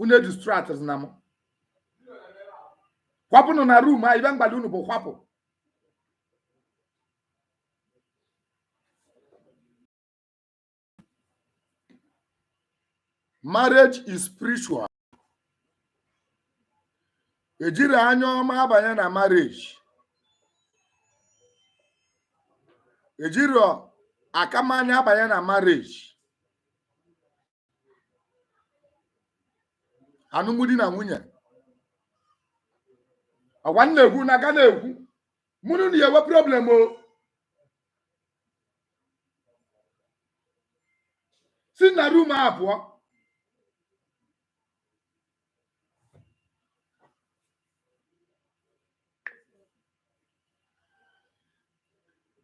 unu edistractna m kwapụnụ na room a ife m gwalụ unu bụ kwapụ marriage is spiritual ejirọ anya ọma abanye na marriage ejirọ akamanya abanye na marriage anụmdi na nwunye agwa m na-ekwu na aga na-ekwu mụnụ na ya enwe problem o si na room a pụọ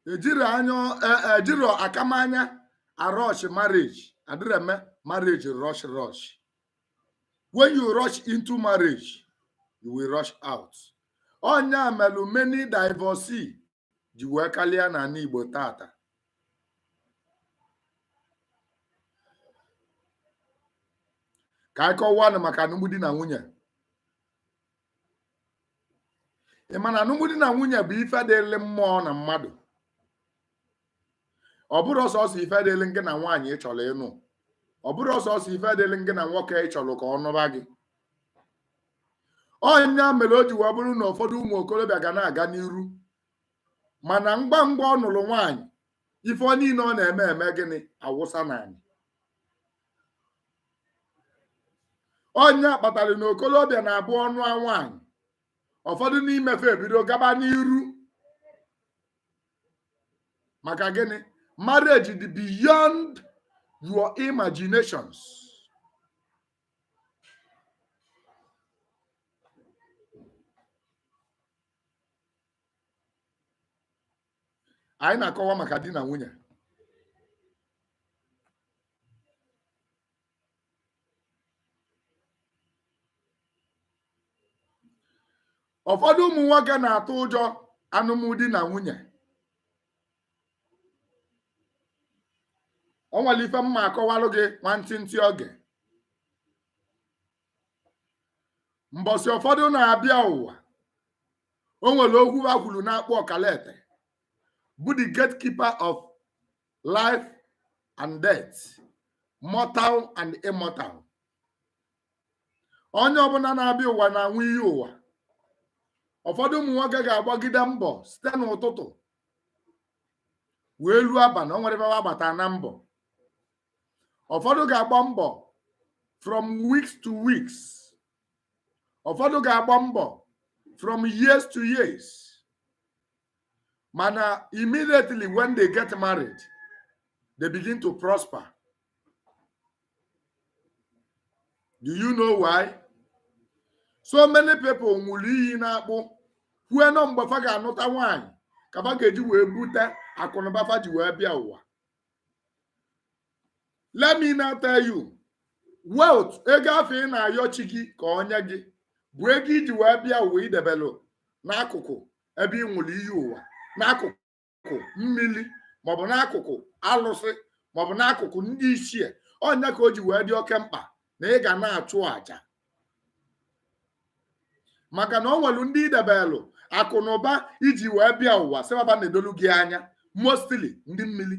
ejirọ akamanya arush marriage adịrọ eme marriage rush rush when you rush into marriage you will rush out ọ nya melu many divorce ji wee kalịa n'ana Igbo tata ka anyị kọwanụ maka anụmdi na nwunye ị ma na anụmdi na nwunye bụ ife dịrị mmụọ na mmadụ ọ bụrọ sọọsọ ife dịrị gị na nwaanyị ị chọrọ ịnụ ọ bụrọ sọọsọ ife dịrị gị na nwoke ị chọrọ ka ọ nụba gị ọ nya mere o ji wee bụrụ na ụfọdụ ụmụ okorobịa ga na-aga n'iru mana ngwa ngwa ọ nụrụ nwaanyị ife niile ọ na-eme eme gịnị awụsa n'anị ọ nya kpatara na okorobịa na-abụ ọ nụa nwaanyị ụfọdụ n'ime fa ebido gaba n'iru maka gịnị marriage dị beyond your imaginations anyị na-akọwa maka di na nwunye ụfọdụ ụmụ nwoke na-atụ ụjọ anụmdi na nwunye o nwere ife m ma-akọwalụ gị nwantịntị oge mbọsị ụfọdụ na-abịa ụwa o nwere okwu fa kwuru n'akpụ ọkalete bụ the gatekeeper of life and death mortal and immortal onye ọbụla na-abịa ụwa na-aṅụ iyi ụwa ụfọdụ ụmụ nwoke ga-agbagide mbọ site n'ụtụtụ wee ruo abalị o nwerọ ebe ba gbata na mbọ ụfọdụ ga-agba mbọ from weeks to weeks ụfọdụ ga-agba mbọ from years to years mana immediately when they get married they begin to prosper do you know why so many people nwụrụ iyi n'akpụ kwue na ọ mgbe fa ga-anụta nwaanyị ka fa ga-eji wee bute akụnụba fa ji wee bịa ụwa let me now tell you wealth ego afụ ị na-ayọ chi gị ka ọ nye gị bụ ego i ji wee bịa ụwa i debelu n'akụkụ ebe ị nwụrụ iyi ụwa n'akụkụ n'akụkụ mmiri maọbụ n'akụkụ alụsị maọbụ n'akụkụ ndị ichie ọ nya ka o ji wee dị oke mkpa na ị ga na-achụ àjà maka na ọ nwelu ndị i debelu akụ na ụba i ji wee bịa ụwa sị ba ba na-edolu gị anya mostly ndị mmiri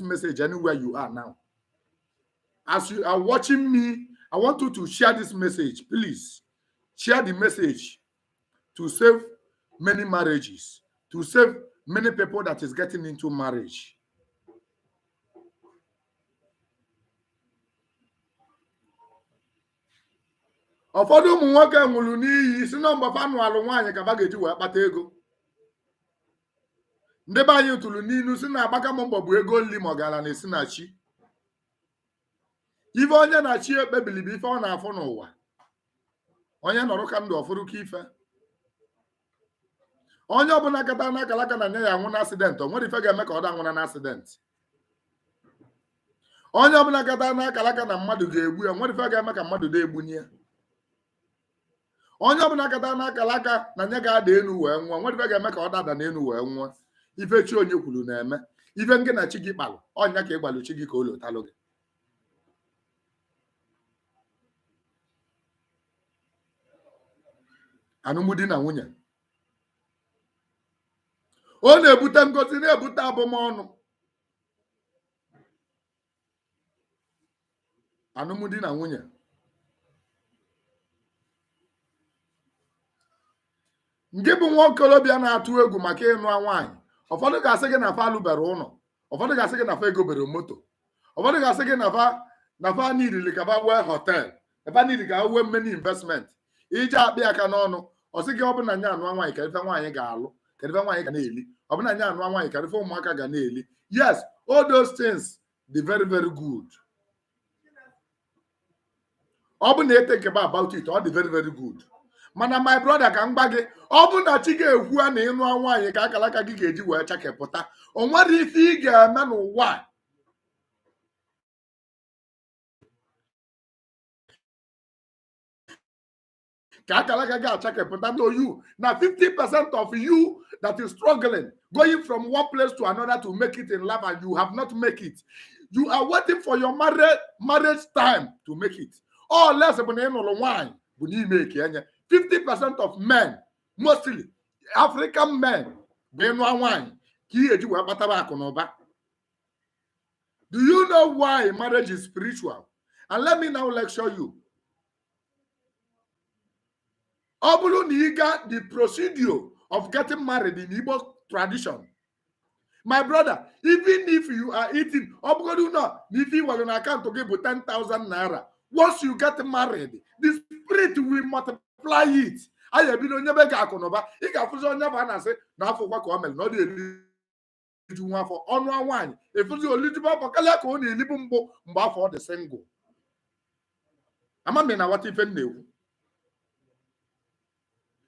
message anywhere you are now. As you are watching me, I want you to share this message, please. Share the message to save many marriages, to save many people that is getting into marriage. ụfọdụ ụmụ nwoke nwụrụ iyi sị na mgbe fa nụalụ nwaanyị ka ba ga-eji wee kpata ego ndị be anyị tụrụ n'ilu sị na agbaka m mbọ bụ ego nri ma ọgaranya si na chi ife onye na chi ekpebili bụ ife ọ na-afụ n'ụwa onye nọrụka ndụ ọ fụrụka ife onye ọbụla kata n'akara aka na nya ya-anwụ na accident o nwerọ ife ga-eme ka ọ da anwụna na accident onye ọbụla kata n'akara aka na mmadụ ga-egbu ya o nwerọ ife ga-eme ka mmadụ da egbuna ya onye ọbụla kata n'akara aka na nya ga-ada elu wee nwụa nwerọ ife ga-eme ka ọ da adana elu wee nwụa ife chi onye kwuru na-eme ife ngị na chi gị kpalụ ọ nya ka ị gwalụ chi gị ka o lotalụ gị alụmdi na nwunye ọ na-ebute ngozi na-ebute abụmọnụ alụmdi na nwunye ngị bụ nwa okorobịa na-atụ egwu maka ịnụ nwaanyị ụfọdụ ga-asị gị na fa alụbere ụlọ ụfọdụ ga-asị gị na fa egobere moto ụfọdụ ga-asị gị na fa na fa nidili ka fa nwee hotel ebe a nidi ka nwee many investment ị je akpị aka n'ọnụ ọ sị gị ọ bụ na nya anụa nwaanyị kedụ ife nwaanyị ga-alụ kedụ ife nwaanyị ga na-eli ọ bụ na nya anụa nwaanyị kedụ ife ụmụaka ga na-eli yes all those things dị very very good ọ bụ na e thinkiba about it ọ dị very very good mana my brother ka m gwa gị ọ bụ na chi gị ekwua na ị nụa nwaanyị ka akalaka gị ga-eji wee chakepụta o nwerọ ife ị ga-eme n'ụwa a ka akalaka gị achakepụta no you na 50 percent of you that is struggling going from one place to another to make it in life and you have not make it you are waiting for your marriage time to make it unless bụ na ị nụlụ nwaanyị bụ n'ime eke enye 50 percent of men mostly african men bụ ị nụa nwaanyị ka ị ya-eji wee kpatara akụ na ụba Do you know why marriage is spiritual? And let me now lecture you. Ọ bụrụ na ị ga the procedure of getting married in Igbo tradition. My brother, even if you are eating, ọ bụgodị na ife ị nwelu na akaụntụ gị bụ 10,000 naira, once you get married, the spirit will multiply it. Anyị ebido nyebe gị akụ na ụba, ị ga-afụzi onye bụ a na-asị na afọ kwa ka ọ mere na ọ dị eri na-eriju nwa afọ ọ nụa nwaanyị ị fụzi o lijuba afọ kalịa ka ọ na-elibu mbụ mgbe afụ ọ dị single ama m ị na-aghọta ife m na-ekwu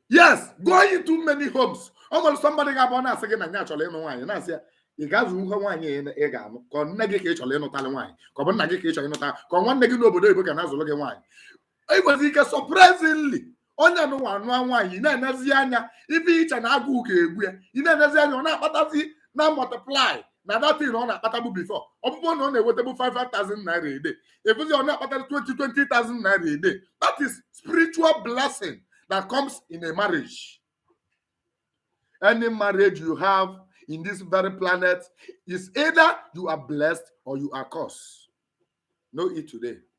yes going into many homes ọ nwere somebody ga-abụ ọ na-asị gị na ya chọrọ ịnụ nwaanyị na-asị ya ị ga-azụnwu nwaanyị ị- ị ga-anụ ka ọ nne gị ka ị chọrọ ịnụtalị nwaanyị ka ọ bụ nna gị ka ị chọrọ ịnụta ka ọ nwanne gị n'obodo oyibo ga na-azụlụ gị nwaanyị e nwere ike surprisingly onye anụnwa anụa nwaanyị ị na-enezi anya ebe i che na agụụ ga-egbu ya ị na-enezi anya ọ na-akpatazi na multiply na that thing ọ na-akpatabu before ọ bụrụ na ọ na-enwetabu 5,000 naira a day ị fụzi ọ na-akpata 20,000 naira a day that is spiritual blessing that comes in a marriage any marriage you have in this very planet is either you are blessed or you are cursed know it today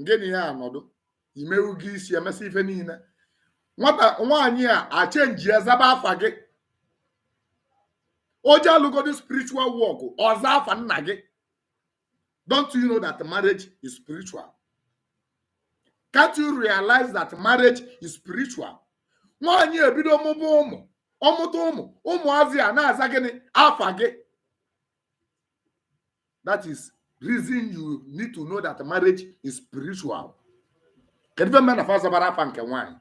ngị na ya anọdụ i mewu ego isi e mesịa ife niile nwata nwaanyị a achenjia zaba afa gị o je alụgodu spiritual work ọ za afa nna gị don't you know that marriage is spiritual can't you realize that marriage is spiritual nwaanyị ebido mụba ụmụ ọ mụta ụmụ ụmụazị a na-aza gịnị afa gị that is reason you need to know that marriage is spiritual kedu ife mere na azabara afa nke nwaanyị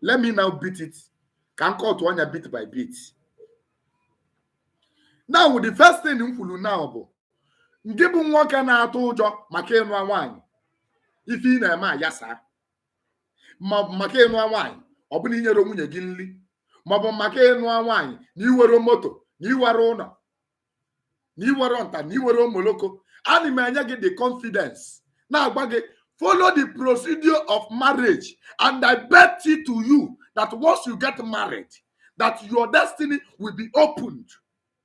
let me now beat it ka m kọtụ ọnụ ya bit by bit now the first thing m kwuru now bụ gị bụ nwoke na-atụ ụjọ maka ịnụ nwaanyị ife ị na-eme ayasa maọbụ maka ịnụa nwaanyị ọ bụ na inyere nwunye gị nri maọbụ maka ịnụa nwaanyị na iwere moto na iwere ụlọ na iwere nta na iwere omoloko ana m enye gị the confidence na-agwa gị follow the procedure of marriage and I bet it to you that once you get married that your destiny will be opened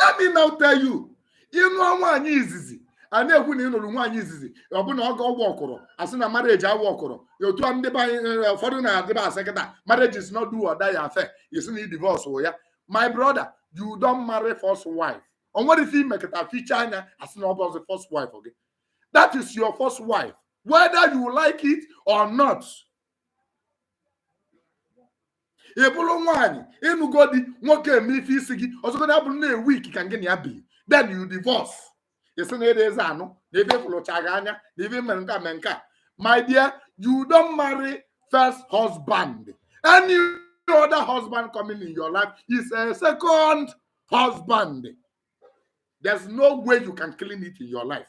let me now tell you ịnụọ nwaanyị izizi a na-ekwu na ị nụrụ nwaanyị izizi ọ bụ na ọ ga ọgwụ ọkụrụ asị na marriage awụ ọkụrụ otu a ndị be anyị eh, ụfọdụ na-adịba asị kịta marriage is not do or die affair isi na ị divorce ya my brother you don marry first wife o nwere ife imekata ficha anya asị na ọ bụrọzi first wife gị that is your first wife whether you like it or not ị bụrụ nwaanyị ịnụgo di nwoke eme ife isi gị ọsọgodi ya bụrụ na a week ka gị na ya bi then you divorce isi na ịdịzi anụ na ife fụlụcha gị anya na ife mere nke a mee nke a my dear you don't marry first husband any other husband coming in your life is a second husband there's no way you can clean it in your life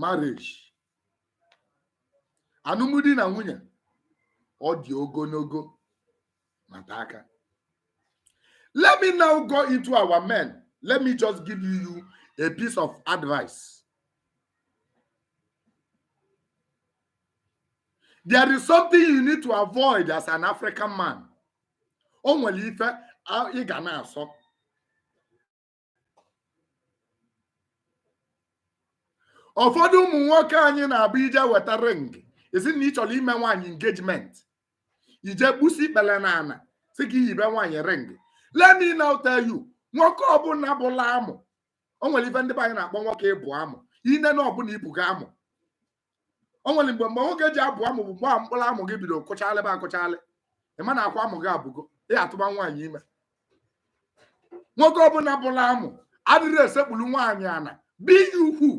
marriage anụmdi na nwunye ọ dị ogonogo mata aka let me now go into our men let me just give you a piece of advice there is something you need to avoid as an african man o nwere ife a- ị ga na-asọ ụfọdụ ụmụ nwoke anyị na-abụ ije weta ring isi na ị chọrọ ime nwaanyị engagement ije gbusi ikpele na ana si ka iyibe nwaanyị ring let me now tell you nwoke ọbụla bụla amụ o nwere ife ndị be anyị na-akpọ nwoke ịbụ amụ ine na ọ bụ na ibuga amụ o nwere mgbe mgbe nwoke ji abụ amụ bụ mgbe a mkpụrụ amụ gị bido kụchalịba akụchalị ị ma na akwa amụ gị abụgo ị ga-atụba nwaanyị ime nwoke ọbụla bụla amụ adịrị esekpulu nwaanyị ana bi ya ukwu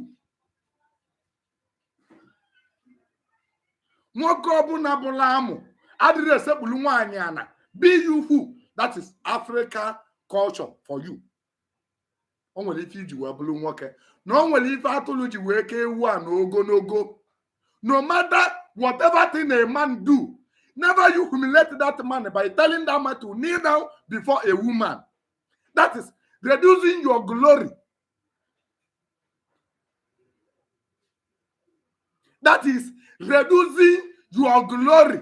nwoke ọbụla bụla amụ adịrị esekpulu nwaanyị ana bi ya ukwu that is african culture for you o nwere ife i ji wee bụrụ nwoke na o nwere ife atụlụ ji wee ka ewu a n'ogonogo no matter whatever thing a man do never you humiliate that man by telling that man to kneel down before a woman that is reducing your glory that is reducing your glory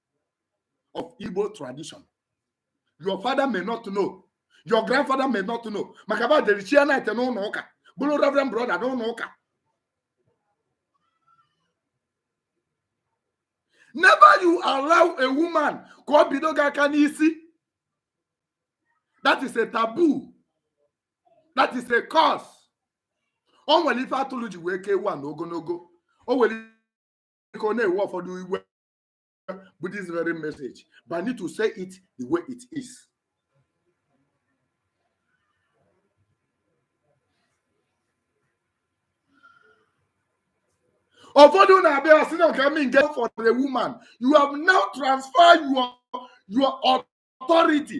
of Igbo tradition. Your father may not know. Your grandfather may not know. Maka ba dere chi knight n'ụnọ ụka. Bụlụ reverend brother n'ụnọ ụka. Never you allow a woman ka ọ bido gị aka n'isi. That is a taboo. That is a curse. O nwere ife atụlụ ji wee ka ewu a n'ogonogo. O nwere ike ọ na-ewe ụfọdụ iwe with this very message, but I need to say it the way it is. ụfọdụ na-abịa asị na ka mi get for the woman you have now transferred your your authority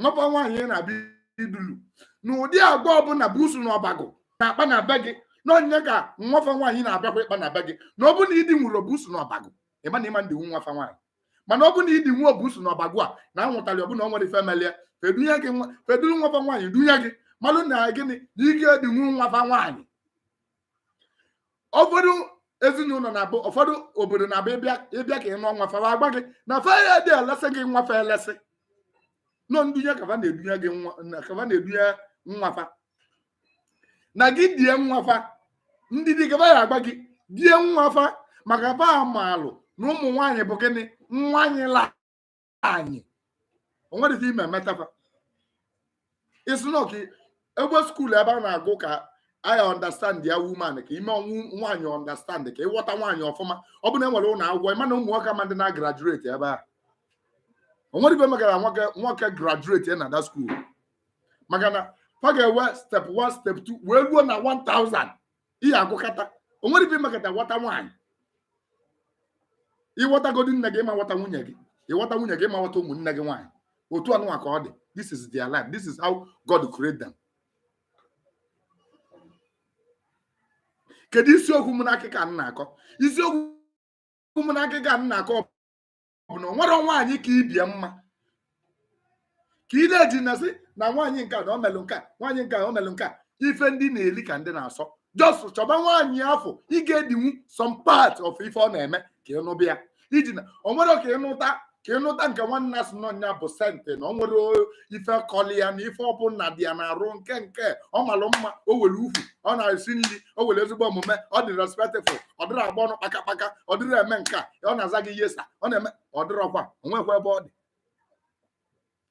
nwafa nwaanyị ị na-abịa idulu na ụdị agba ọbụna buusu na ọbago na-akpa na be gị na ọ nya ka nwafa nwaanyị na-abịakwa ịkpa na be gị na ọ bụ na i dinwuro buusu na ọbago ị ma na ị ma-edinwu nwafa nwaanyị mana ọ bụ na i dinwuo buusu na ọbago a na anwụtali ọ bụ na o nwere ife melie fa edulu nwafa nwaanyị dunye gị malụ na gịnị na ị ga-edinwu nwafa nwaanyị ụfọdụ ezinụnọ na-abụ ụfọdụ obodo na-abụ ị bịa ị bịa ka ị nụọ nwa fa fa agba gị na fa adị elesi gị nwa fa elesi na ọ ndunye ka fa na-edunye gị nwa na ka fa na-edunye nwa fa na gị die nwa fa ndidi ka fa ya-agba gị die nwa fa maka fa amalụ na ụmụ nwaanyị bụ gịnị nwaanyị la anyị o nwere ife ị ma-emeta fa isi na ọ ka enwe school ebe a na-agụ ka i understand a woman ka i menwu nwaanyị understand ka ị ghọta nwaanyị ọfụma ọ bụrụ na e nwere ụnọ akwụkwọ ị ma na ụmụ nwoke ama dị na-agraduate ebe a o nwere ife mekata nwoke nwoke graduate ya na that school maka na fa ga-ewe step 1 step 2 wee luo na 1000 ị ya-agụkata o nwere ife i mekata ghọta nwaanyị ị ghọtagodi nne gị ị ma-aghọta nwunye gị ị ghọta nwunye gị ị ma-aghọta ụmụnne gị nwaanyị otu anụnwa ka ọ dị this is their life this is how God create them kedu isiokwu m n'akụkọ a m na-akọ isiokwu m n'akụkọ a m na-akọ bụ na o nwere nwaanyị ka ibie mma ka ị na-eji na-asị na nwaanyị nke na o melụ nke a nwaanyị nke o melụ nke a ife ndị na-eli ka ndị na-asọ just chọba nwaanyị afụ ị ga-edinwu some part of ife ọ na-eme ka ị nụba ya i ji na o nwere ka ị nụta nke nwa na-asị na ọ nya bụ saint na o nwere ife kọlị ya na ife ọbụna di ya na-arụ nke nke ọ malụ mma o were ukwu ọ na-esi nri o nwere ezigbo omume ọ dị respectful ọ dịrọ agba ọnụ kpakakpaka ọ dịrọ eme nke a ọ na-aza gị yes sir ọ na-eme ọ dịrọkwa onwekwa ebe ọ dị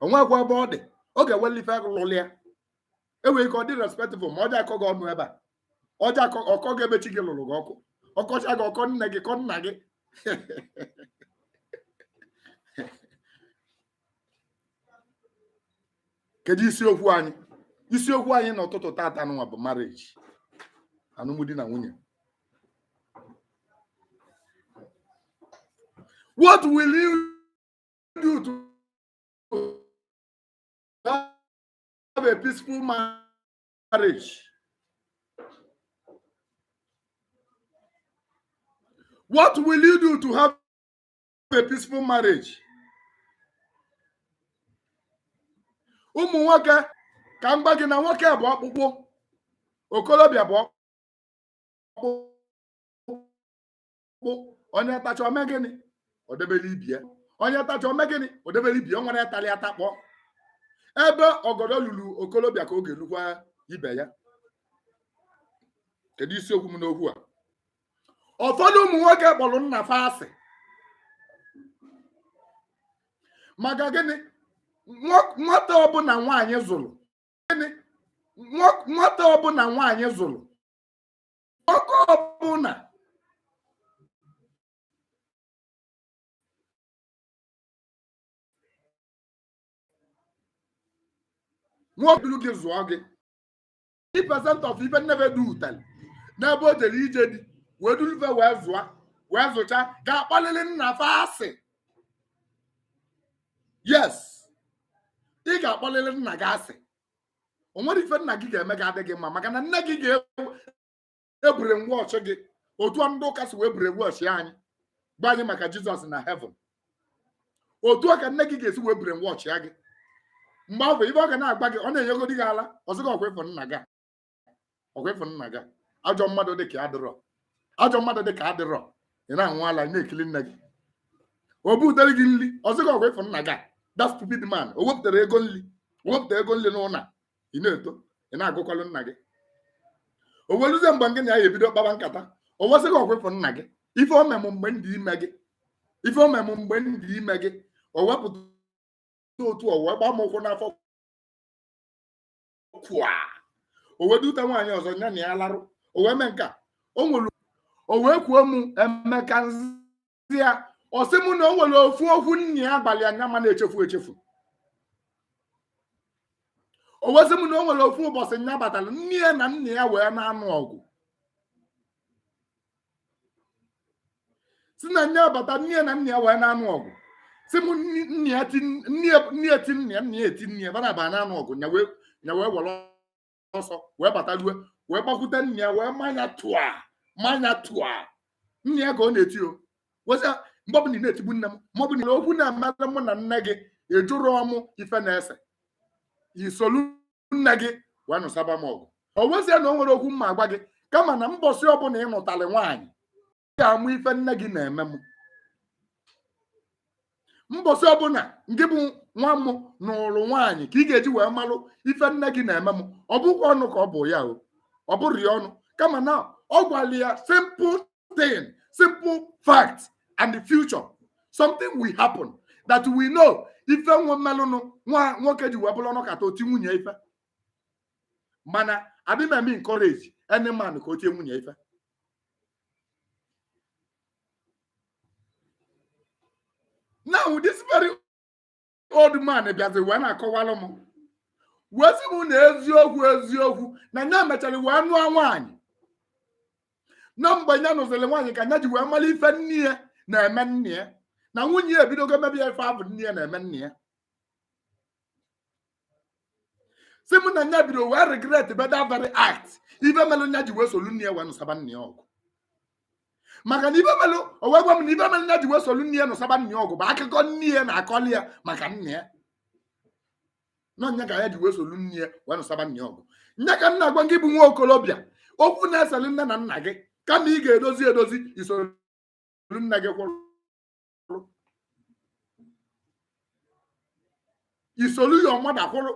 onwekwa ebe ọ dị ọ ga-enweli ife lụlụ ya e nwere ike ọ dị respectful ma ọ dị akọ gị ọnụ ebe a ọ dị akọ ọ kọọ gị ebe chi gị lụrụ gị ọkụ ọ kọchaa gị ọ kọọ nne gị kọọ nna gị kedu isiokwu anyị isiokwu anyị n'ụtụtụ tata nụnwa bụ marriage alụmdi na nwunye what will you do to have a peaceful marriage what will you do to have a peaceful marriage ụmụ nwoke ka m gwa gị na nwoke bụ ọkpụkpụ okolobịa bụ ọkpụkpụ onye tacha o mee gịnị o debere ibe ya onye tacha o mee gịnị o debere ibe ya o nwere ịtali atakpọ ebe ọgọdọ lulu okolobịa ka ọ ga-elukwa ibe ya kedu isiokwu m n'okwu a ụfọdụ ụmụ nwoke kpọrọ nna fa asị maka gịnị nwata ọbụla nwaanyị zụrụ gịnị nwata ọbụla nwaanyị zụrụ nwoke ọbụla nwoke duru gị zụọ gị percent of ife nne fa dutali n'ebe o jere ije di wee dulu fa wee zụọ wee zụcha ga-akpọlịlị nna fa asị yes ị ga-akpọlịlị nna gị asị o nwere ife nna gị ga-eme gị adịghị mma maka na nne gị ga-ewu ebrainwash gị otu a ndị ụka si wee brainwash anyị gwa anyị maka jizọs na heaven otu a ka nne gị ga-esi wee brainwashia gị mgbe ahụ ibe ọ ga na-agwa gị ọ na-enyegodi gị ala ọ sị gị ọkwa ị fụ nna gị a. ọkwa ị fụ nna gị a. ajọ mmadụ dị ka ya adịrọ ajọ mmadụ dị ka ya adịrọ ị na-aṅụ ala ị na-ekiri nne gị o butere gị nri ọ sị gị ọkwa ị fụ nna gị a. that stupid man o wepụtarọ ego nri o wepụtarọ ego nri n'ụlọ a, ị na-eto ị na-agụkọlụ nna gị o wee luzie mgbe gị na ya ebido kpaba nkata o wee sị gị ọkwa ị fụ nna gị ife o me mụ mgbe m dị ime gị ife o me mụ mgbe m dị ime gị o wepụta otu o wee gbaa m ụkwụ n'afọ kwa o wee dute nwaanyị ọzọ ya na ya larụ o wee mee nke a o nwere o wee kwuo m emeka si ya ọ sị m na o nwere ofu okwu nna ya gwalị ya nya ma na-echefu echefu o wee sị m na o nwere ofu ụbọchị nya batara nne ya na nna ya wee na-anụ ọgụ sị na nya bata nne ya na nna ya wee na-anụ ọgụ sị m nni- nne ya ti nne ya- nne ya ti nna ya nna ya eti nne ya fa naabọ na-anụ ọgụ nya wee nya wee were ọsọ wee bata rue wee gbakwute nna ya wee manya tụa manya tụa nne ya ka ọ na-eti o wee sị ya mgbe ọbụla ị na-etigbu nne m ma ọ bụ na okwu na-esere mụ na nne gị ị jụrọ mụ ife na-ese i solu nne gị wee nụsaba m ọgụ o wee sị ya na o nwerọ okwu m ma-agwa gị kama na mbọsị ọbụla ị nụtalị nwaanyị ga-ama ife nne gị na-eme m mbọsị ọbụla ngị bụ nwa m nụlụ nwaanyị ka ị ga-eji wee malụ ife nne gị na-eme m ọ bụkwa ọnụ ka ọ bụ ya o ọ bụrọ ya ọnụ kama na ọ gwara ya simple thing simple fact and the future something will happen that we know ife melụnụ nwoke ji wee bụrụ ọ nọkata o tie nwunye ife mana adịghị m eme encourage any man ka o tie nwunye ife now this very old man bịazi wee na-akọwalụ m wee sị m na eziokwu eziokwu na nya mechara wee nụọ nwaanyị na mgbe nya nụziri nwaanyị ka nya ji wee mara ife nne ya na-eme nna ya na nwunye ya ebidogo mebe ya ife afụ nne ya na-eme nna ya sị m na nya bido wee regret be that very act ife melụ nya ji wee solu nne ya wee nụsaba nna ya ọgụ maka na ife melụ o wee gwa m na ife melụ nya ji wee solu nne ya nụsaba nna ya ọgụ bụ akụkọ nne ya na-akọli ya maka nna ya na ọ nya ka ya ji wee solu nne ya wee nụsaba nna ya ọgụ nya ka m na-agwa gị bụ nwa okorobịa okwu na-eseli nne na nna gị kama ị ga-edozi edozi i soro nne gị kwụrụ kwụrụ i solu your mother kwụrụ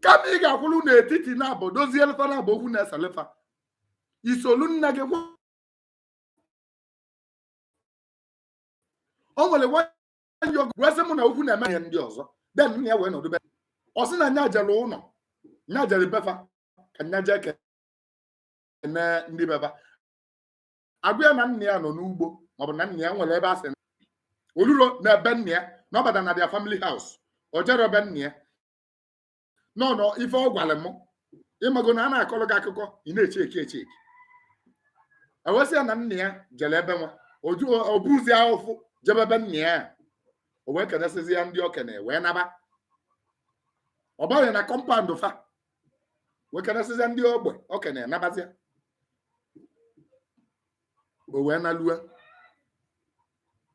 kama ị ga-akwụrụ n'etiti naabọ dozielụ fa naabọ okwu na-eselụ fa i solu nna gị kwụrụ o nwere nwanyị ọgụ wee sị mụ na okwu na-eme ihe ndị ọzọ then nna ya wee nọdụ be ọ sị na nya jere ụnọ nya jere be fa ka nya jee kene ndị be fa a gwa ya na nna ya nọ n'ugbo maọbụ na nna ya nwere ebe a sị o lurọ na ebe nna ya na ọ bata na their family house o jerọ ebe nna ya nọ na ọ ife ọ gwara m ị mago na a na-akọrọ gị akụkọ ị na-echeki echeki e wee sị ya na nna ya jere ebe nwa o buzi ahụfụ jebe ebe nna ya o wee kenesịzie ndị okenye wee naba ọ baghị na compound fa wee kenesịzịa ndị ogbe okenye nabazịa o wee nalue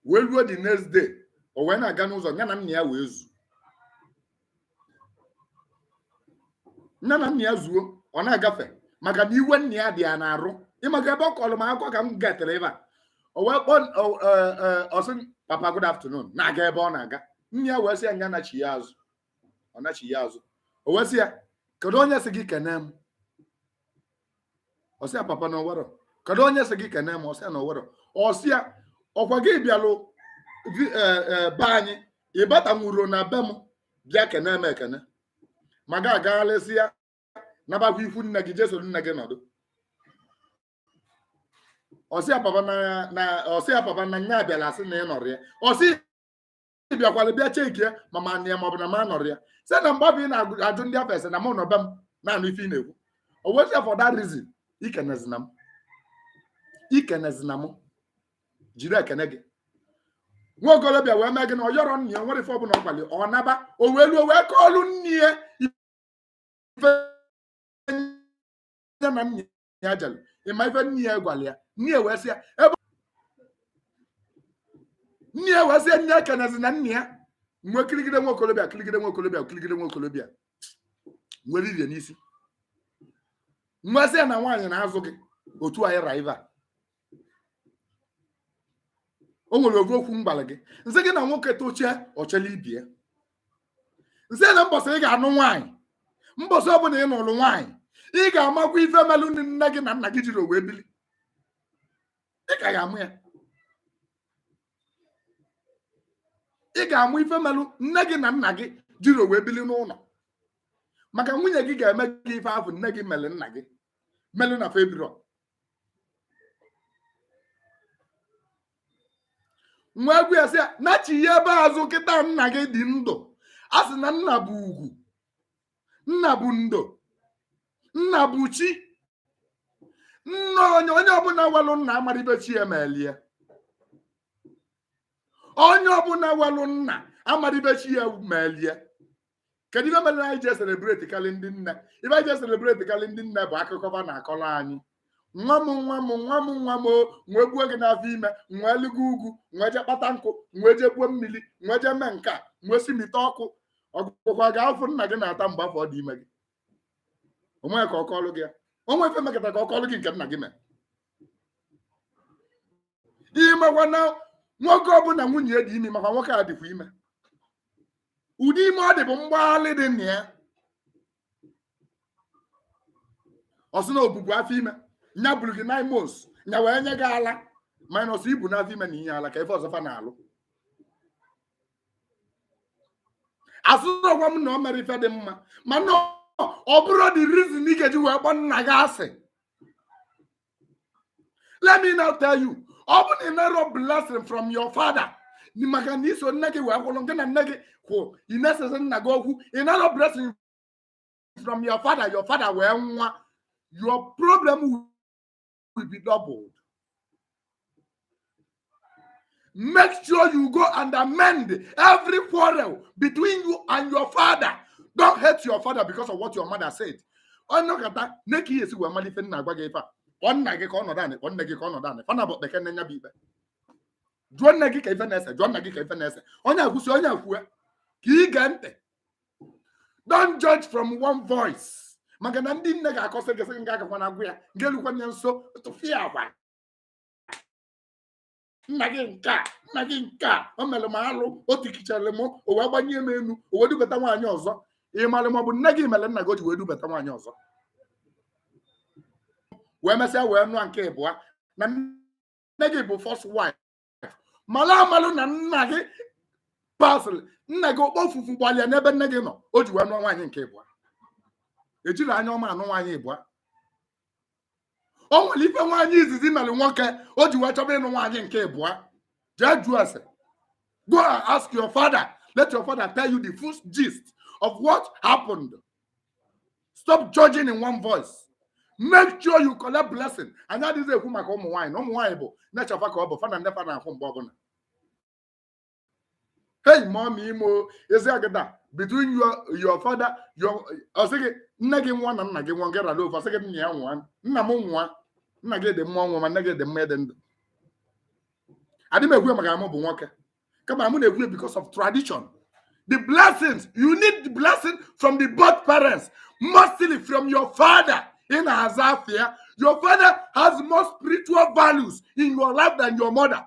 wee luo the next day o wee na-aga n'ụzọ ya na nna ya wee zu nya na nna ya zuo ọ na-agafe maka na iwe nna ya dị ya n'arụ ịmaka ebe ọ kọrọ m akụkọ ka m gatere ebe a o wee kpọọ o- e- e- ọ sị papa good afternoon na-aga ebe ọ na-aga nna ya wee sị ya nya nachia azụ ọ nachia azụ o wee sị ya kedu onye sị gị kene m ọ sị ya papa na o nwerọ kedu onye sị gị kene m ọ sị ya na o nwerọ ọ sị ya ọkwa gị bịalụ vi- eh, eh, be anyị ị batanwurọ na be m bịa kene m ekene ma ga agaghalịsịa nabakwa ikwu nne gị je soro nne gị nọdụ ọ sị ya papa na na ọ sị ya papa na nya abịala a sị na ị nọrọ ya ọ sị bịakwara bịa chekie ma m nọ ya ma ọ bụ na m anọrọ ya sị na mgbe ọ bụ ị na-ajụ ndị afụ ese na mụ nọ be m na-anụ ife ị na-ekwu o wee sị ya for that reason ikenezina m ikenezina m jide ekene gị nwa okorobịa wee mee gịnị ọ yọrọ nna ya o nwerọ ife ọbụla ọ gwara ya, ọ naba o wee luo wee kọọlụ nne ya ife ya na nna ya jere ị ma ife nne ya gwara ya nne ya wee sị ya ebe nne ya wee sị ya nya ekenezina nna ya m wee kirigide nwa okorobịa kirigide nwa okorobịa kirigide nwa okorobịa nwere irie n'isi m wee sị ya na nwaanyị na-azụ gị otu anyị raiva o nwere oge okwu m gwalụ gị m sị gị na nwoke tochie o chelu ibe ya m sị na mbọsị ị ga-anụ nwaanyị mbọsị ọbụla ị nụrụ nwaanyị ị ga-amakwa ife melụ nne gị na nna gị jirọ wee bili ị ka ga-ama ya ị ga-ama ife melụ nne gị na nna gị jirọ wee bili n'ụlọ maka nwunye gị ga-eme gị ife ahụ nne gị mere nna gị melụ na fa ebirọ m wee gwa ya sị ya nachighabe azụ kịta nna gị dị ndụ a sị na nna bụ ugwu nna bụ ndo nna bụ chi nna onye onye ọbụla nwelụ nna amarọ ife chi ya meelụ ya onye ọbụla nwelụ nna amarọ ife chi ya meelụ ya kedu ife mere anyị ji eselebreti karị ndị nne ife anyị ji eselebreti karị ndị nne bụ akụkọ fa na-akọrọ anyị nwa m nwa m nwa m nwa m o, m wee buo gị n'afọ ime m wee ligo ugwu m wee jee kpata nkụ m wee jee buo mmiri m wee jee mee nke a m wee si mite ọkụ ọ gwagokwa gị afụfụ nna gị na-ata mgbe afụ ọ dị ime gị o nwee ka ọ kọọlụ gị ya o nwee ife mekata ka ọ kọọlụ gị nke nna gị mee ị makwa na nwoke ọbụla nwunye ya dị ime makwa nwoke a dịkwa ime ụdị ime ọ dị bụ mgbaghalị dị na ya ọ sị na obubu afọ ime nya buru gị nine months nya wee nye gị ala minus ibu n'afọ ime na inye ala ka ife ọzọ fa na-alụ asụsụkwa m na o mere ife dị mma mana ọ bụrụ the reason ị ga-eji wee kpọọ nna gị asị let me now tell you ọ bụ na ị narọ blessing from your father maka na i so nne gị wee kwụrụ nke na nne gị kwụ ị na-esezi nna gị okwu ị narọ blessing from your father your father wee nwụa your problem will be doubled Make sure you go and amend every quarrel between you and your father. Don't hate your father because of what your mother said. Onye ọkata na-eke ihe esi wee mara ife na-agwa gị ife a. Ọ nna gị ka ọ nọdụ anị, ọ nne gị ka ọ nọdụ anị. Fa naabọ kpekene nya bụ ikpe. Jụọ nne gị ka ife na-ese, jụọ nna gị ka ife na-ese. Onye a kwusi, onye a kwue ka i gee ntị. Don't judge from one voice. Maka na ndị nne ga-akọsị gị sị gị agakwana agwụ ya, gị elukwa ya nso tụfịakwa. nna gị nke a nna gị nke a o mere m alụ o tikichara m o wee gbanye m elu o wee dubata nwaanyị ọzọ ị mara ma ọ bụ nne gị mere nna gị o ji wee dubata nwaanyị ọzọ wee mesịa wee nụa nke ịbụa na nne gị bụ first wife mara amalụ na nna gị pasịrị nna gị okpofufu gbalị ya n'ebe nne gị nọ o ji wee nụọ nwaanyị nke ịbụa ejirọ anya ọma anụ nwaanyị ịbụa o nwere ife nwaanyị izizi mere nwoke o ji wee chọba ịnụ nwaanyị nke ịbụa jee jụọ ase go and ask your father let your father tell you the full gist of what happened stop judging in one voice make sure you collect blessing anyị adịzị ekwu maka ụmụ nwaanyị na ụmụ nwaanyị bụ nature fa ka ọ bụ fa na nne fa na-akwụ mgbe ọbụna hey mom imo ezi agada between your your father your ọ sị gị nne gị nwụa na nna gị nwụa nke rara ofe ọ sị gị nna ya nwụa nna m nwụa nna gị dị mma nwụa ma nne gị dị mma ịdị ndụ adị m ekwu ya maka na mụ bụ nwoke kama mụ na-ekwu ya because of tradition the blessings you need the blessing from the both parents mostly from your father ị na-aza afa ya your father has more spiritual values in your life than your mother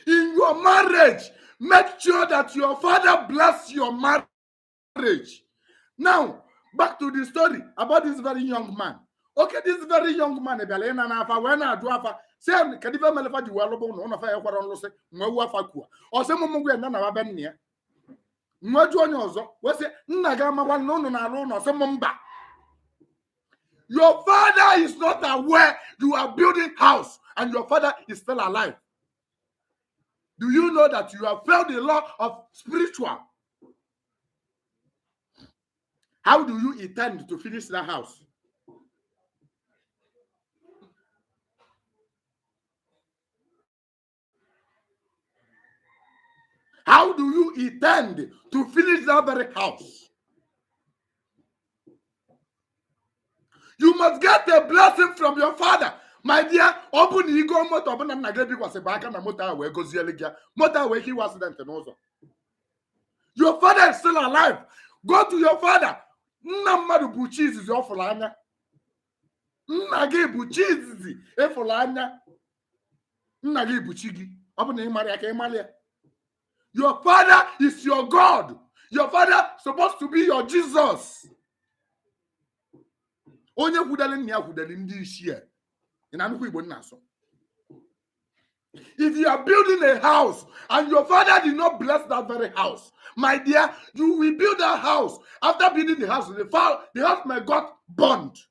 in your marriage make sure that your father bless your marriage now back to the story about this very young man okay this very young man bịara ịna n'afa wee na-ajụ afa sị ya kedu ife mele fa ji wee lụbụ na ụlọ fa ya kwara nlụsị wee wuo afa kuwa ọ sị mụ mụ gwa ya na na be nna ya m wee jụọ onye ọzọ wee sị nna gị amakwa na ị na-alụ ụnọ ọ sị m mba your father is not aware you are building house and your father is still alive do you know that you have failed the law of spiritual how do you intend to finish that house How do you intend to finish that very house? You must get a blessing from your father. My dear, ọ bụ na i go moto ọ bụ na nna gị ebikwasịbe aka na moto ahụ wee goziele gị ya moto ahụ nwee ike nwee accident n'ụzọ your father is still alive go to your father nna mmadụ bụ chi izizi ọ fụrụ anya nna gị bụ chi izizi ị fụrụ anya nna gị bụ chi gị ọ bụ na ị marọ ya ka ị mara ya your father is your god your father supposed to be your jesus onye hudali nna ya hudali ndị isi ya ị na-anụkwa igbo m na-asụ If you are building a house and your father did not bless that very house, my dear, you will build that house. After building the house, the, fa- the house may got burned.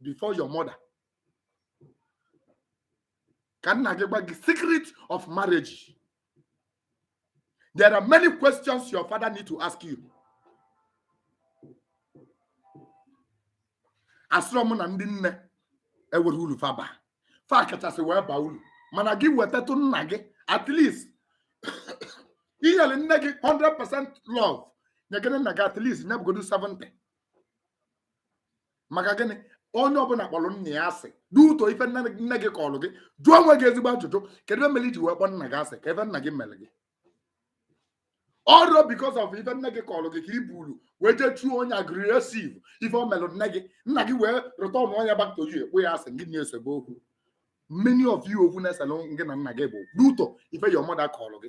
before your mother ka nna gị gwa gị secret of marriage there are many questions your father need to ask you asịrọ m na ndị nne enwerọ uru fa baa fa kachasị wee baa uru mana gị wetatụ nna gị at least i nyere nne gị 100% love nyegene nna gị at least nye ọbụgodu 70 maka gịnị onye ọbụna kpọlụ nna ya asị due to ife nne gị kọlụ gị jụọ onwe gị ezigbo ajụjụ kedu ife melụ i ji wee kpọ nna gị asị kee ife nna gị mere gị all because of ife nne gị kọlụ gị ka i bulu wee jee show onye aggressive ife o melụ nne gị nna gị wee return onye back to you ị kpọọ ya asị gị na-esebe okwu many of you okwu na-eselụ gị na nna gị bụ due to ife your mother kọlụ gị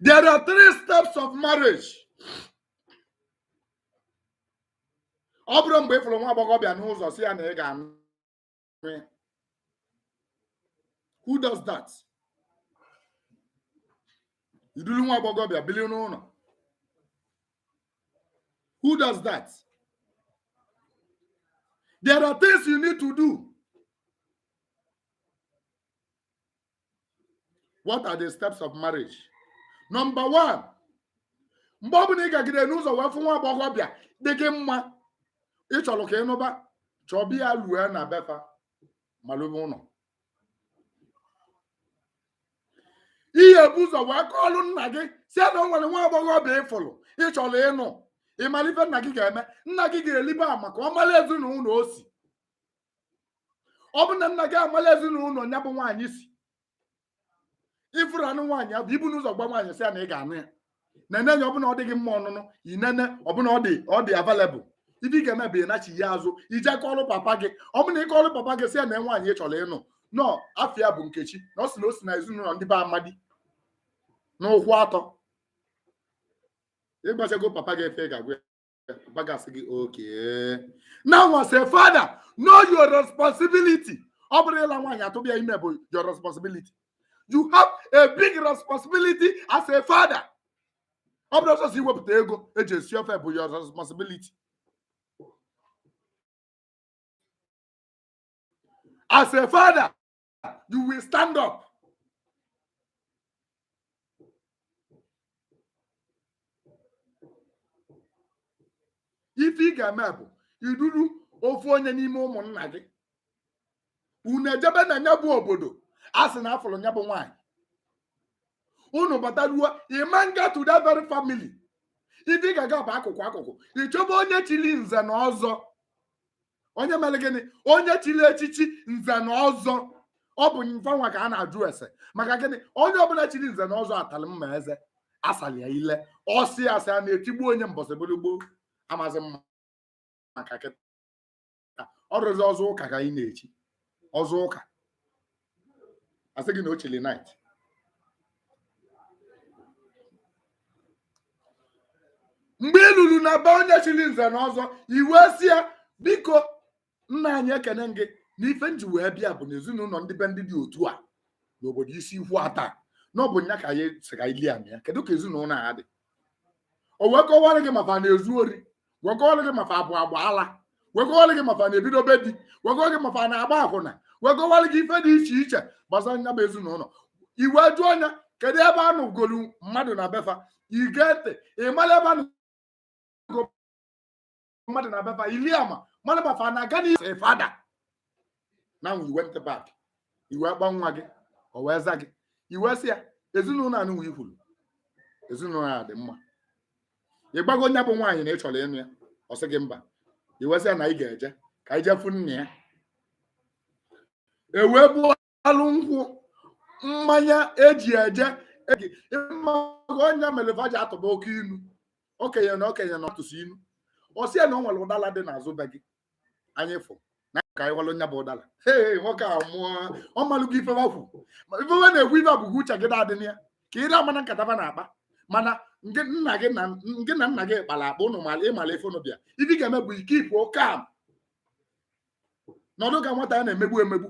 There are three steps of marriage. ọ bụrọ mgbe ị fụrụ nwa agbọghọbịa n'ụzọ sị ya na ị ga-anụ Eh. who does that i dulu nwa agbọghọ bịa bili n'ụnọ who does that there are things you need to do what are the steps of marriage number one mgbe ọ bụla ị gagidere n'ụzọ wee fụ nwa agbọghọbịa dị gị mma ị chọrọ ka ị nụba chọba ya lue na befa malụbe ụlọ ihe bu ụzọ wee kọọrụ nna gị sị na o nwere nwa agbọghọbịa ị fụrụ ị chọrọ ịnụ ị mara ife nna gị ga-eme nna gị ga-elibe ama ka ọ mara ezinụlọ o si ọ bụ na nna gị amala ezinụlọ nya bụ nwaanyị si ị fụrụ na ịnụ nwaanyị abụ ibu n'ụzọ gwa nwaanyị sị na ị ga-anụ ya nene ya ọ bụ na ọ dị gị mma ọnụnụ i nene ọ bụ na ọ dị available ife ị ga-eme bụ ịnachigha azụ i je kọọlụ papa gị ọ bụ na ị kọọlụ papa gị sị na nwaanyị ị chọrọ ịnụ na afa ya bụ nkechi na o si na o si na ezinụlọ ndị be amadi n'ụkwụ atọ ị gwachago papa gị ife ị ga-agwa papa ga-asị gị okay now as a father know your responsibility ọ bụrọ ịla nwaanyị atụba ya ime bụ your responsibility you have a big responsibility as a father ọ bụrọ sọsọ iwepụta ego eji esi ofe bụ your responsibility as a father you will stand up ife ị ga-eme bụ iduru ofu onye n'ime ụmụnna gị unu ejebe na nya bụ obodo a sị na a fụrụ nya bụ nwaanyị unu bataruo ị ma na-aga to that very family ife ị ga-aga bụ akụkụ akụkụ ị chọba onye chili nze na ọzọ onye mere gịnị onye chiri echichi nze na ọzọ ọ bụ nfanwa ka a na-ajụ ese maka gịnị onye ọbụla chiri nze na ọzọ a talị mma eze a salị ya ile ọ sị asị ana etigbuo nya mbọsị bụrụ gboo amazi m maka kịta ọ bụzi ọzọ ụka ka anyị na-echi ọzọ ụka a sị gị na o chili knight mgbe i lulu na be onye chiri nze na ọzọ i wee sị ya biko nna anyị ekenee m gị na ife m ji wee bịa bụ na ezinụlọ ndị be ndị dị otu a n'obodo isi ikwu atọ na ọ bụ nya ka anyị sị ka anyị lie ama kedu ka ezinụlọ a dị o wee kọwara gị ma fa na-ezu ori wee kọwara gị ma fa abụ agba ala wee kọwara gị ma fa na-ebido be di wee kọwara gị ma fa na-agba akwụna wee kọwara gị ife dị iche iche gbasara nya bụ ezinụlọ i wee jụọ nya kedu ebe a nụgolu mmadụ na befa i gee ntị ị mara ebe a nụgo mmadụ na befa i lie ama mmadụ befa na-aga n'ihu as a father now you went back i wee kpọọ nwa gị o wee za gị i wee sị ya ezinụlọ anụnwa i kwuru ezinụlọ a dị mma ị gwago nya bụ nwaanyị na ị chọrọ ịnụ ya ọ sị gị mba i wee sị ya na ị ga-eje ka i jee fụ nna ya e wee bụọ alụ nkwụ mmanya eji eje eji ọ nya mere va ji atụba oke inu okenye na okenye na ọ tụsịa inu ọ sị ya na o nwere ụdala dị n'azụ be gị anyị fụ na ka anyị walụ nya bụ ụdala ee nwoke a mụọ ọ malụgo ife wa kwu ma ife wa na-ekwu ife abụghị uche gị na-adị na ya ka ị na-amana nkata fa na-akpa mana nke nna gị na nke na nna gị kpara akpa ụnụ mara ịmara ife ụnụ bịa ife ị ga-eme bụ ike ifu oke am nọdụ ka nwata a na-emegbu emegbu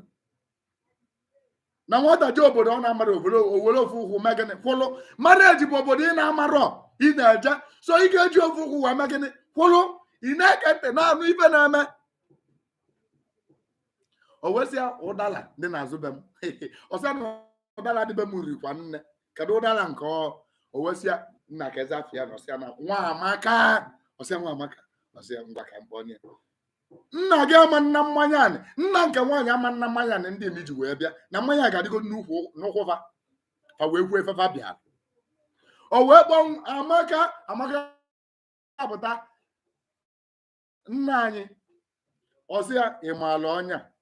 na nwata jee obodo ọ na-amarọ obodo o were ofu ụkwụ mee gịnị kwụlụ marriage bụ obodo ị na-amarọ ị na-eje so ị ga-eji ofu ụkwụ wee mee gịnị kwụlụ ị na-ege ntị na-anụ ife a na-eme o wee sị ya ụdala dị n'azụ be m ọ sị ya na ụdala dị be m rikwa nne kedu ụdala nke ọ o wee sị ya nna keezi afa ya na ọ sị ya na nwa amaka ọ sị ya nwa amaka ọ sị ya ngwa ka m kpọọnụ ya nna gị ama ana mmanya anị nna nke nwaanyị ama ana mmanya anị ndị emi ji wee bịa na mmanya ga-adịgo n'ukwu n'ụkwụ fa fa wee kwuo ife fa bịara o wee kpọọ amaka amaka apụta nna anyị ọ sị ya ị maala onye a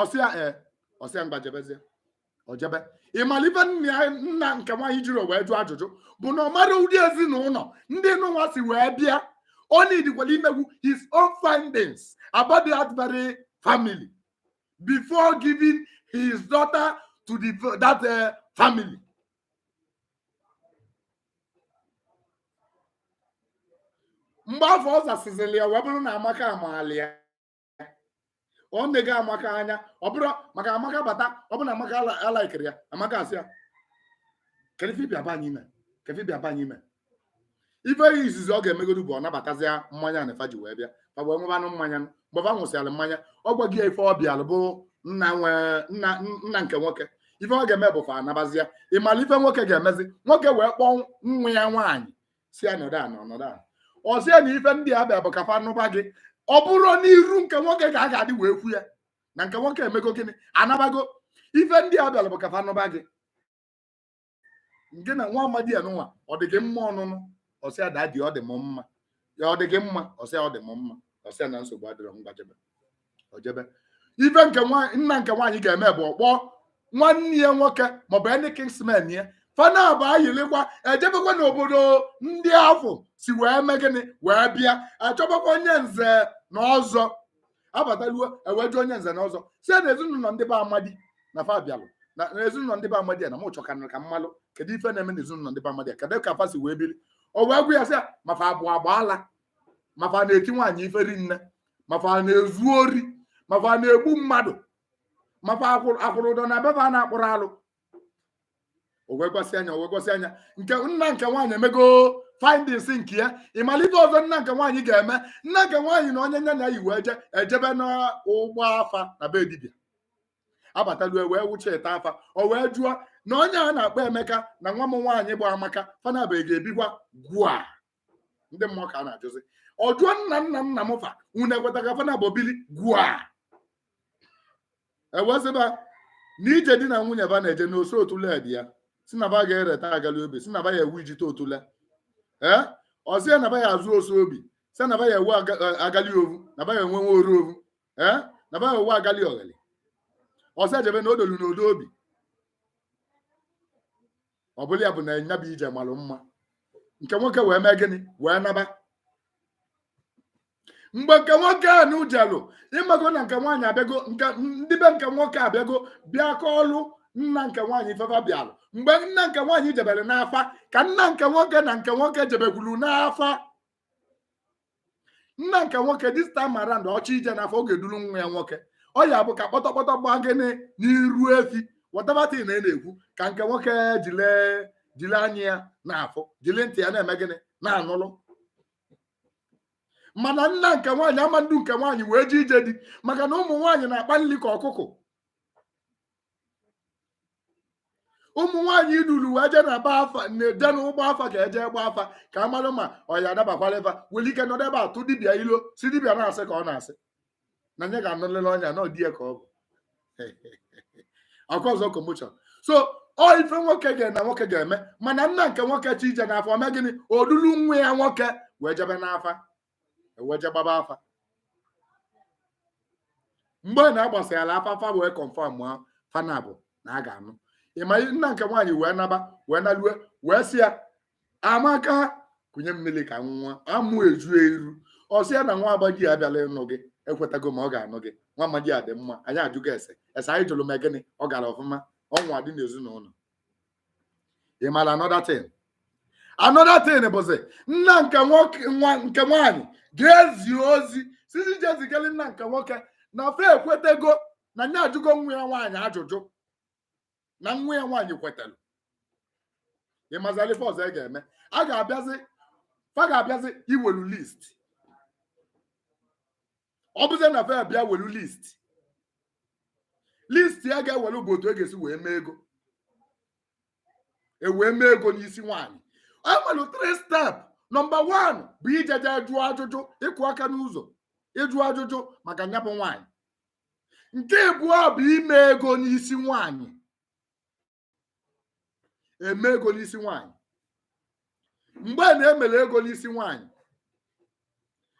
ọ sị ya ee ọ sị ya ngwa jebezie o jebe ịmara ife nna ya nna nke nwaanyị jiri wee jụọ ajụjụ bụ na ọ mara ụdị ezinụlọ ndị nụnwa si wee bịa ọ needikwala imegwu his own findings about that very family before giving his daughter to the, that uh, family mgbe afụ ọ zasịzịrị ya wee bụrụ na amaka amaala ya ọ nego amaka anya ọ bụrụ maka amaka bata ọ bụrụ na amaka ala- alaikere ya amaka asị ya kedu ife ị bịa be anyị ime kedu ife ị bịa be anyị ime ife izizi ọ ga-emegodu bụ ọ nabatazịa mmanya anị fa ji wee bịa fa wee nwụbanụ mmanya mgbe fa nwụsịara mmanya ọ gwaghị ya ife ọ bịalụ bụ nna nwe nna nna nke nwoke ife ọ ga-eme bụ fa anabazia ịmala ife nwoke ga-emezi nwoke wee kpọọ nwa ya nwaanyị sị ya nọdụ ana nọdụ ana ọ sị ya na ife ndị a bịa bụ ka fa nụba gị ọ bụrọ n'iru nke nwoke ka a ga-adị wee kwuo ya na nke nwoke emego gịnị anabago ife ndị a bịara bụ ka fa nụba gị nke na nwa amadi a nụnwa ọ dị gị mma ọnụnụ ọ sị ya daddy ọ dị m mma ya ọ dị gị mma ọ sị ya ọ dị m mma ọ sị ya na nsogbu adịrọ ngwa jebe o jebe ife nke nna nke nwaanyị ga-eme bụ ọ kpọọ nwanne ya nwoke maọbụ ndị kinsmen ya fa naabọ ayịlịkwa ejebekwa n'obodo ndị afụ si wee mee gịnị wee bịa achọbakwa onye nze na ọzọ abataluo e wee jụọ onye nze na ọzọ sị na ezinụlọ ndị be amadi na fa bịalụ na ezinụlọ ndị be amadi na m chọkwanụ ka m malụ kedu ife na-eme na ezinụlọ ndị be amadi kedu ka fa si wee biri o wee gwa ya sị ma fa abụ ọgba ala ma fa na-eti nwaanyị ife rinne ma fa na-ezu ori ma fa na-egbu mmadụ ma fa akwụrụ ụdọ na be fa na-akpụrụ alụ o wee gwasịa nya o wee gwasịa nya nke nna nke nwaanyị emego findings nke ya ị malụ ife ọzọ nna nke nwaanyị ga-eme nna nke nwaanyị na onye nya na ya yi wee je ejebe n'ụgbọ afa na be dibịa abatalue wee wụcha ete afa o wee jụọ na onye a na-akpọ emeka na nwa m nwaanyị bụ amaka fa naabọ ga-ebikwa gwa ndị mmụọ ka a na-ajụzi ọ jụọ nna nna nna m fa unu ekweta ka fa naabọ bili gwa e wee sị ba na ije di na nwunye ba na-eje n'ose otule dị ya sị na ba ga-ereta agali obi sị na ba ya ewu ijite otule ee ọ sị ya na ba ya azụ ose obi sị na ba ya ewu aga- eh, agali ovu na ba ya enwe nwa oru ovu ee na ba ya ewu agali oghali ọ sị e jebe na odolu na odi obi ọ bụlụ ya bụ na nya bụ ije malụ mma nke nwoke wee mee gịnị wee naba mgbe nke nwoke a nụ jelụ ị mago na nke nwaanyị abịago ndị be nke nwoke abịago bịa kọọlụ nna nke nwaanyị ife fa bịalụ mgbe nna nke nwaanyị jebere n'afa ka nna nke nwoke na nke nwoke jebekwuru n'afa nna nke nwoke this time around ọ chọ ije n'afa ọ ga-eduru nwa ya nwoke ọ ya bụ ka kpọtọkpọtọ gbaa gịnị n'iru efi whatever thing a na-ekwu ka nke nwoke jile jile anya ya na-afụ jile ntị ya na-eme gịnị na-anụlụ mana nna nke nwaanyị ama ndu nke nwaanyị wee je ije di maka na ụmụ nwaanyị na-akpa nri ka ọkụkọ ụmụ nwaanyị i duru wee jee na be afa na-eje na ụgbọ afa ka e je gba afa ka a mara ma ọ ya adabakwala ebe o nwere ike nọdụ ebe a tụ dibịa ilo sị dibịa na asị ka ọ na-asị na nya ga-anụlịlị onye a na ọ dị ya ka ọ bụ okwu ọzọ commotion so ọ ife nwoke ga na nwoke ga-eme mana nna nke nwoke chọ ije n'afa o mee gịnị o dulu nwa ya nwoke wee jebe n'afa e wee je gbaba afa mgbe na a gbasịara afa fa wee confirm fa naabọ na a ga-anụ ị ma nna nke nwaanyị wee naba wee nalue wee sị ya amaka kunye m mmiri ka m ṅụa amụ eju iru ọ sị ya na nwa amadi a bịalụ ịnụ gị ekwetago m ọ ga-anụ gị nwa amadi a dị mma anyị ajụgo ese ese anyị jụrụ mee gịnị ọ gara ọfụma ọ nwa dị n'ezinụlọ ị mara another thing another thing bụzi nna nke nwoke nna nke nwaanyị ga-ezi ozi sisi je zigara nna nke nwoke na fa ekwetago na nya ajụgo nwa ya nwaanyị ajụjụ na nwa ya nwaanyị kwetara ị mazili ife ọzọ ga-eme a ga-abịazi fa ga-abịazi iwelu list ọ bụzie na fa bịa welu list list ya ga-ewelu bụ otu e ga-esi wee mee ego e wee mee ego n'isi nwaanyị e nwere three step nọmba one bụ ijeje jụọ ajụjụ ịkụ aka n'ụzọ ịjụ ajụjụ maka nyabụ nwaanyị nke abụọ bụ ime ego n'isi nwaanyị eme ego n'isi nwaanyị mgbe na e mere ego n'isi nwaanyị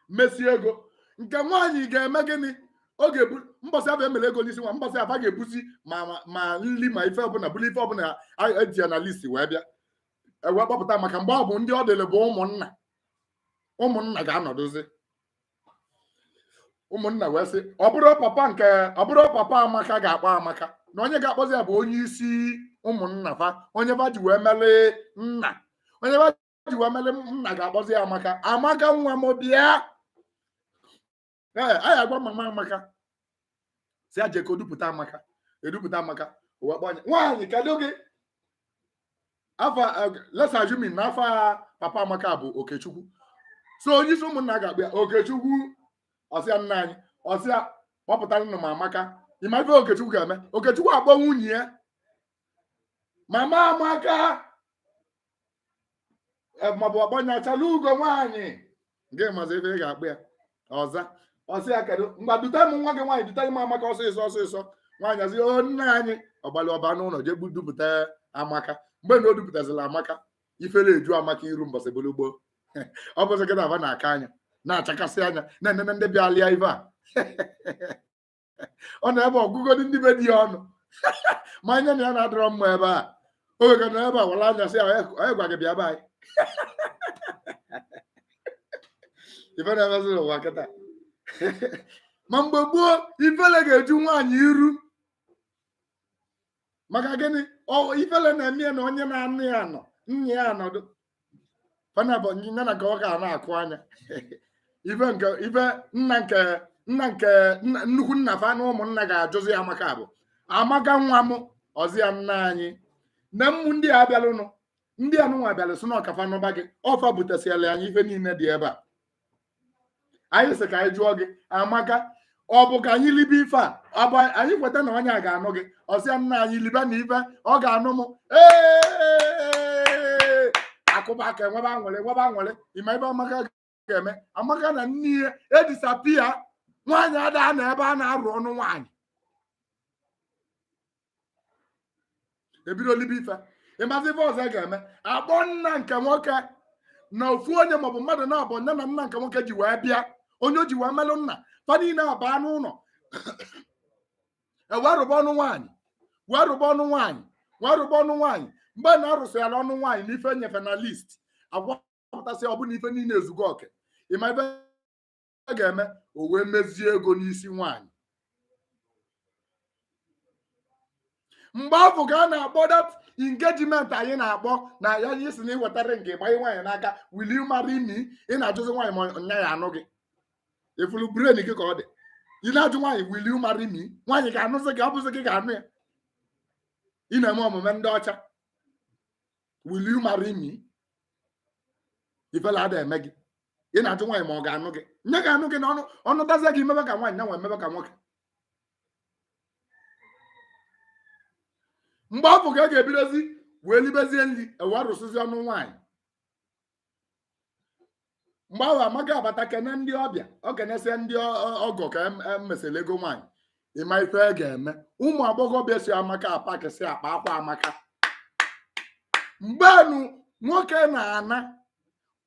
mesi ego nke nwaanyị ga-eme gịnị ọ ga-ebu mbọsị afụ e mere ego n'isi nwaanyị mbọsị afụ a ga-ebuzi ma ma- ma nri ma ife ọbụla buru ife ọbụla a- eji ya na listi wee bịa e wee kpọpụta maka mgbe ọ bụ ndị ọ dịrị bụ ụmụnna ụmụnna ga-anọdụzi ụmụnna wee sị ọ bụrọ papa nke ọ bụrọ papa amaka ga-akpọ amaka na onye ga-akpọzi ya bụ onye isi ụmụnna fa onye fa ji wee mele nna onye fa ji wee mele nna ga-akpọzi ya amaka amaka nwa m bịa ee anyị agwa mama amaka sị ya jee ka o dupụta amaka e dupụta amaka o wee kpọọ onye nwaanyị kedu gị afa let's assume na afa papa amaka bụ okechukwu so onye isi ụmụnna ga-akpọ ya okechukwu ọ sị ya nna anyị ọ sị ya kpọpụtara nụ m amaka ị ma ife okechukwu ga-eme okechukwu akpọ nwunye ya mama amaka e, maọbụ ọ kpọọ ya achalaugo nwaanyị gị mazi ife ọ ga-akpọ ya ọ za ọ sị ya kedu ngwa dute m nwa gị nwaanyị dute m amaka ọsịsọ ọsịsọ nwaanyị asị o nna anyị ọ gbalị ọ baa n'ụnọ jee gbu- dupụta amaka mgbe na o dupụtazila amaka ifere eju amaka iru mbọsị bụrụ gboo ọ bụzị kịta aba na-aka anya na-achakasị anya na-enene ndị bịa lịa ife a ọ na ebe ọ gụgodu ndị be di ya ọnụ ma anya na ya na-adịrọ mma ebe a oge ka na ebe a wala anya sị ya onye gwa gị bịa be anyị ife na-emezi n'ụwa kịta ma mgbe gboo ifele ga-eju nwaanyị iru maka gịnị ifele na-eme ya na onye na-anụ ya nọ nne ya anọdụ fa naabọ nyina na ka ọ ga na-akụ anya ife nke ife nna nke nna nke nnukwu nna fa na ụmụnna ga-ajụzi amaka bụ amaka nwa m ọ sị ya nna anyị na mmụ ndị a bịalụnụ ndị anụnwa bịalụ sị na ọ ka fa nụba gị ọ fa butesịala anyị ife niile dị ebe a anyị sị ka anyị jụọ gị amaka ọ bụ ka anyị libe ife a ọ bụ anyị kweta na onye a ga-anụ gị ọ sị ya nna anyị libe na ife ọ ga-anụ m ee a kụba aka e nwebe aṅụrị e nwebe aṅụrị ị ma ife amaka ga-eme amaka na nne ya e disappear nwaanyị ada anọ ebe a na-arụ ọnụ nwaanyị ebido libe ife ịmazi ife ọzọ ga-eme akpọ nna nke nwoke na ofu onye maọbụ mmadụ naabọ nne na nna nke nwoke ji wee bịa onye o ji wee melụ nna fa niine abaa n'ụnọ ewee rụba ọnụ nwaanyị wee rụba ọnụ nwaanyị wee rụba ọnụ nwaanyị mgbe na arụsịala ọnụ nwaanyị na ife nyefe na list agwapụtasị ọ bụ na ife niine ezugo oke ịma ife a ga-eme o wee mezie ego n'isi nwaanyị mgbe afụ ka a na-akpọ that engagement anyị na-akpọ na ya sị na ị wetara nke ịgbanye nwaanyị n'aka will you marry me ị na-ajụzi nwaanyị ma nya ya-anụ gị ị fụlụ brain gị ka ọ dị ị na-ajụ nwaanyị will you marry me nwaanyị ga-anụzi gị ọ bụzi gị ga-anụ ya ị na-eme omume ndị ọcha will you marry me ifele ada eme gị ị na-ajụ nwaanyị ma ọ ga-anụ gị nya ga-anụ gị n'ọnụ ọ nụtazie gị ị mebe ka nwaanyị nya nwa emebe ka nwoke mgbe afụ ka a ga-ebidozi wee libezie nri ebe a rụsịzi ọnụ nwaanyị mgbe ahụ amaka abata kene ndị ọbịa o kenesie ndị ọ- ọ- ọgọ ka em- emesịrị ego nwaanyị ịma ife a ga-eme ụmụ agbọghọbịa so amaka apakịsị akpa akwa amaka mgbenu nwoke na-ana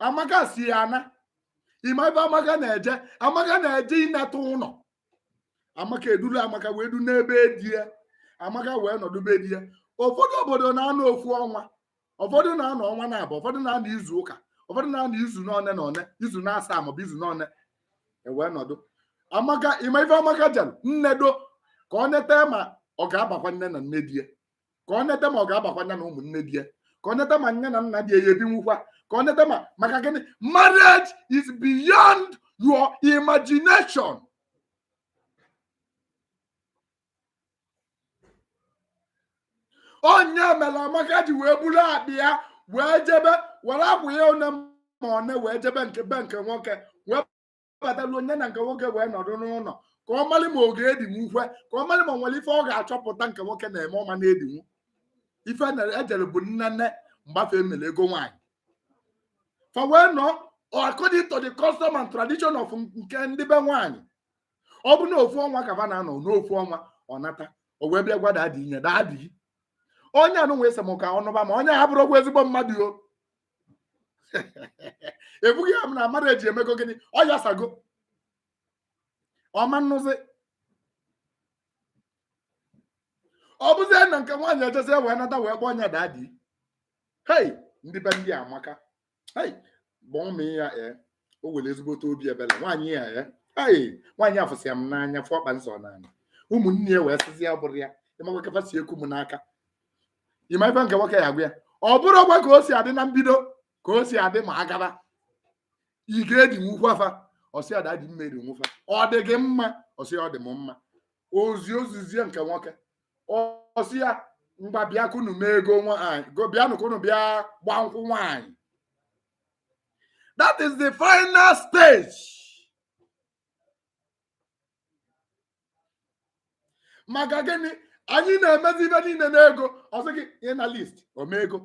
amaka so ya ana ịma ife amaka na-eje amaka na-eje ineta ụnọ amaka e duru amaka wee duna be di ya amaka wee nọdụ be di ya ụfọdụ obodo na-anọ ofu ọnwa ụfọdụ na-anọ ọnwa naabọ ụfọdụ na-anọ izu ụka ụfọdụ na-anọ izu n'one na one izu naasaa maọbụ izu n'one ewee nọdụ amaka ịma ife amaka jere nnedo ka o nete ma ọ ga-abakwa nya na nne di ya ka o nete ma ọ ga-abakwa nya na ụmụnne di ya ka o nete ma nya na nna di ya ya-ebinwukwa ka o nete ma maka gịnị marriage is beyond your imagination ọ nya mere amaka ji wee buru akpa ya wee jebe were akwa ya one ma one wee jebe nke be nke nwoke wee batalụ nya na nke nwoke wee nọdụ n'ụnọ ka ọ malị ma ọ ga-edinwukwa ka ọ malị ma o nwere ife ọ ga-achọpụta nke nwoke na-eme ọ ma na-edinwu ife e jere bụ nnene mgbe afụ e mere ego nwaanyị fa wee nọ according to the custom and tradition of nke ndị be nwaanyị ọ bụ na ofu ọnwa ka fa na-anọ n'ofu ọnwa ọ nata o wee bịa gwa dadi nya dadi onye a nụ wee sị m ka ọ nụba m onye a abụrọkwa ezigbo mmadụ o ebughị ya m na mmadụ eji emego gịnị ọ yasago ọ ma nụzi ọ bụzie na nke nwaanyị ejezi wee nata wee kpọọ nya dadi hei ndị be ndị a amaka Hey, gbọọ m ya ee o were ezigbote obi ebele nwaanyị ya ee ei nwaanyị a fụsịa m n'anya fụ ọkpa nsọ n'anya ụmụnne ya wee sịzi ya bụrụ ya ị makwa ka fa si eku m n'aka ị ma ife nke nwoke ya gwa ya ọ bụrọkwa ka o si adị na mbido ka o si adị ma a gaba ị ga-edinwukwa fa ọ sị ada dị mma edinwu fa ọ dị gị mma ọ sị ọ dị m mma ozi ozizie nke nwoke ọ sị ya ngwa bịa ka unu mee ego nwaanyị bịanụ ka unu bịa gbaa nkwụ nwaanyị that is the final stage maka gịnị anyị na-emezi ife niile n'ego ọ sị gị ihe na list omego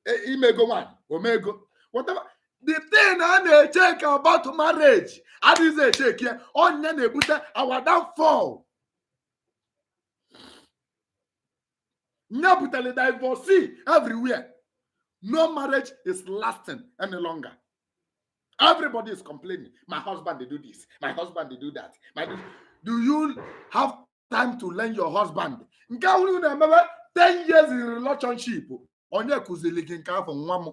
e, ime ego nwaanyị omego whatever the thing a na-echek about marriage adịghịzi echek ya ọ nya na-ebute our downfall nye butere divorcee everywhere no marriage is lasting any longer everybody is complaining my husband dey do this my husband dey do that my do you have time to learn your husband nke ahụ na-emebe 10 years in relationship onye kụziri gị nke afọ nwa m